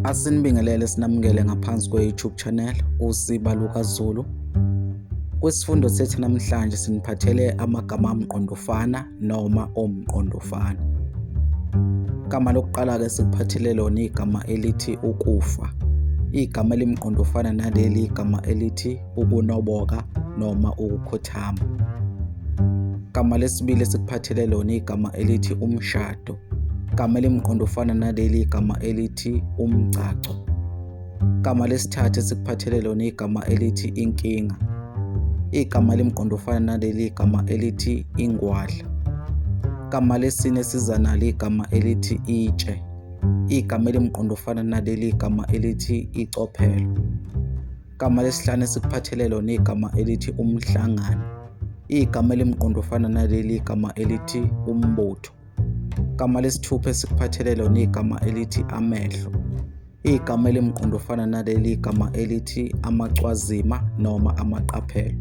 Asinibingelele sinamukele ngaphansi kwe-YouTube channel uSiba Luka Zulu. Kwisifundo sethu namhlanje siniphathele amagama amqondofana noma omqondofana. Igama lokuqala ke sikuphathele lona igama elithi ukufa. Igama elimqondofana naleli igama elithi ukunoboka noma ukukhothama. Igama lesibili esikuphathele lona igama elithi umshado. Igama elimqondo ufana naleli igama elithi umgcagco. Igama lesithathu esikuphathele lona igama elithi inkinga. Igama elimqondo ufana naleli igama elithi ingwadla. Igama lesine siza nalo igama elithi itshe. Igama elimqondo ufana naleli igama elithi icophelo. Igama lesihlanu esikuphathele lona igama elithi umhlangano. Igama elimqondo ofana naleli igama elithi umbutho. Igama lesithupha esikuphathele lona igama elithi amehlo. Igama elimqondo ofana naleli igama elithi amacwazima noma amaqaphelo.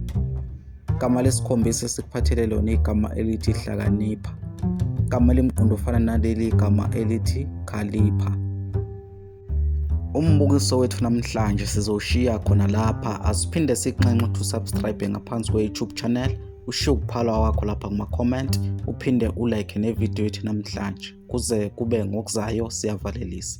Igama lesikhombisa esikuphathele lona igama elithi hlakanipha. Igama elimqondo ofana naleli igama elithi khalipha. umbukiso wethu namhlanje sizowushiya khona lapha asiphinde sikunxenxe ukuthi usubscribe ngaphansi kwe-youtube channel ushiye ukuphalwa wakho lapha kuma-comment uphinde ulike nevidiyo yethu namhlanje kuze kube ngokuzayo siyavalelisa